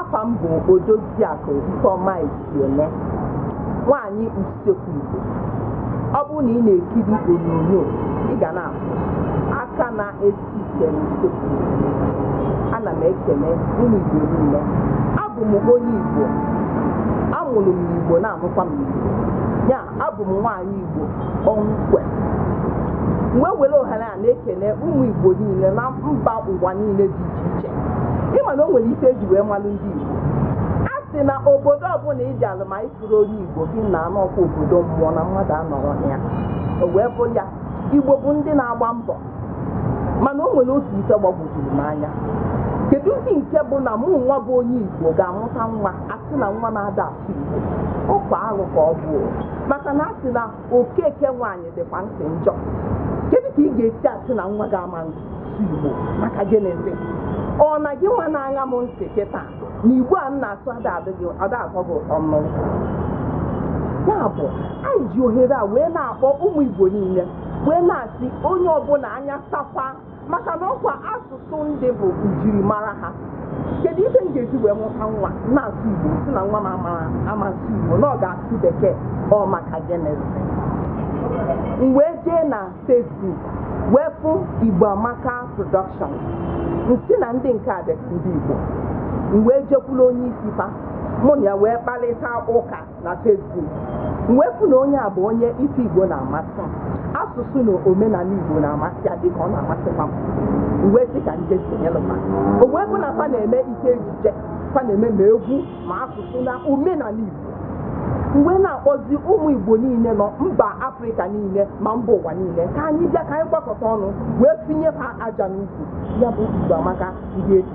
afa m bụ odoziakụ Ifeọma Ezieme nwaanyị usekwu Igbo ọ bụrụ na ị na-ekiri onyonyo ị ga na-afụ aka na-esi ite n'usekwu ana m ekele ụmụ Igbo niile abụ m onye Igbo amụrụ m Igbo na-amụkwa m Igbo abụ m nwaanyị Igbo kpọmkwem m wee were ohere a na-ekele ụmụ Igbo niile na mba ụwa niile dị iche iche ịma na o nwere ife eji wee malụ ndị Igbo a sị na obodo ọbụla ị bịalụ ma ịfụrụ onye Igbo gị na anọkwa obodo mmụọ na mmadụ anọrọ ya o wee bụ ya Igbo bụ ndị na-agba mbọ mana o nwere otu ife gbagwojuru m anya keduzi nke bụ na mụ nwa bụ onye Igbo ga-amụta nwa a sị na nwa na-ada ọkwa alụ ka ọ bụ maka na a sị na okeke nwaanyị dịkwa ntị njọ kedu ka ị ga-esi asị na nwa gị ama asụ igbo maka gịnịzi ọ na gị nwa na-aṅa m ntị kịta na igbo a m na-asụ ada atọ gị ụtọ mmụọ ya bụ anyị ji ohere a wee na-akpọ ụmụ igbo niile wee na-asị onye ọbụla anya sakwa maka na ọkwa asụsụ ndị bụ njirimara ha kedu ife m ga-eji wee mụta nwa na-asụ igbo sị na nwa m ama asụ igbo na ọ ga-asụ bekee ọ maka gịnịzi m wee jee na facebook wee fụ igbo amaka production m sị na ndị nke a dịka ndị igbo m wee jekwulu onye isi fa mụ na ya wee kparịta ụka na Facebook m wee fụ na onye a bụ onye ife Igbo na-amasị asụsụ na omenala Igbo na-amasị ya dịka ọ na-amasịkwa m m wee sị ka m je tinyelụ fa m wee fụ na fa na-eme ife ejije fa na-eme ma egwu ma asụsụ na omenala Igbo m wee na-akpọzi ụmụ Igbo niile nọ mba Afrịka niile ma mba ụwa niile ka anyị bịa ka anyị gbakọta ọnụ wee finye ya aja n'ukwu ya bụ Igbo amaka ndị eji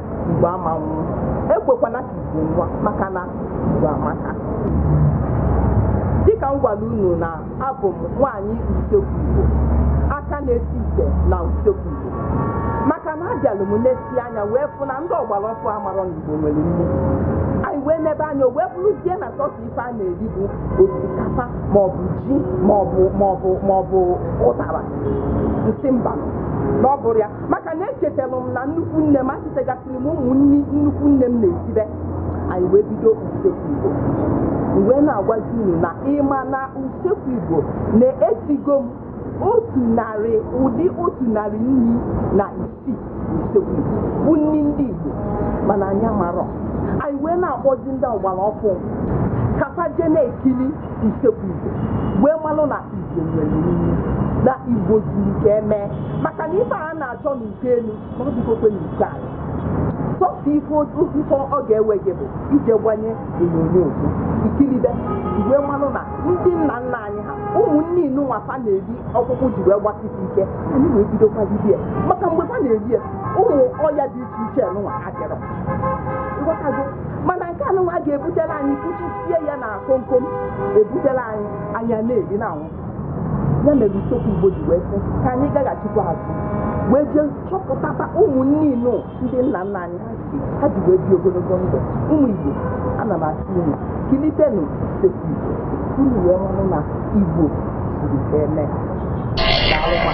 igbo ama anwụ ekwekwana ka igbo nwụa maka na igbo amaka dịka m gwara unu na abụ m nwaanyị usekwu igbo aka na-esi ite na usekwu igbo maka na abịalụ m nezie anya wee fụ na ndị ọgbara ọfụ amarọ na igbo nwere nri anyị wee nebe anya wee bụrụzie na sọsọ ife a na-eri bụ osikapa maọbụ ji maọbụ ụtara m sị mba na ọ bụrọ ya maka na echetara m na nnukwu nne m echetagasịrị m ụmụ nri nnukwu nne m na-esibe anyị wee bido usekwu igbo m wee na-agwazi unu na ịma na usekwu igbo na esigo m otu narị ụdị otu narị nri na isii usekwu igbo bụ nri ndị igbo mana anyị amarọ anyị wee na-akpọzi ndị ọgbara ọfụ ka fa je na-ekiri usekwu igbo wee malụ na igbo nwere nri na igbo zuru ka emee maka na ife a na-achọ n'uko elu na ọ dịgokwa n'uko ala sọsọ ife otu ife ọ ga-ewe gị bụ ije gbanye onyonyo gị i kiribe i wee malụ na ndị nna nna anyị ha ụmụ nni nụnwa fa na-eri ọkpụkpụ ji wee gbasisie ike anyị wee bidokwa ribe ya maka mgbe ha na-eri ya ụmụ ọya dị iche iche nụnwa adịrọ ịghọtago mana nke a nụnwa ga-ebutere anyị kpuchi sie ya na komkom ebutelụ anyị anyị a na-eri na-anwụ ya mere usekwu igbo ji wee sị ka anyị gaghachikwa azụ wee jee chọpụtata ụmụ nni nụ ndị nna nna anyị ha ji ha ji wee bie ogologo ndụ ụmụ igbo ana m asị unu kilibenụ usekwu igbo unu wee malụ na igbo zuru ka emee daalụkwa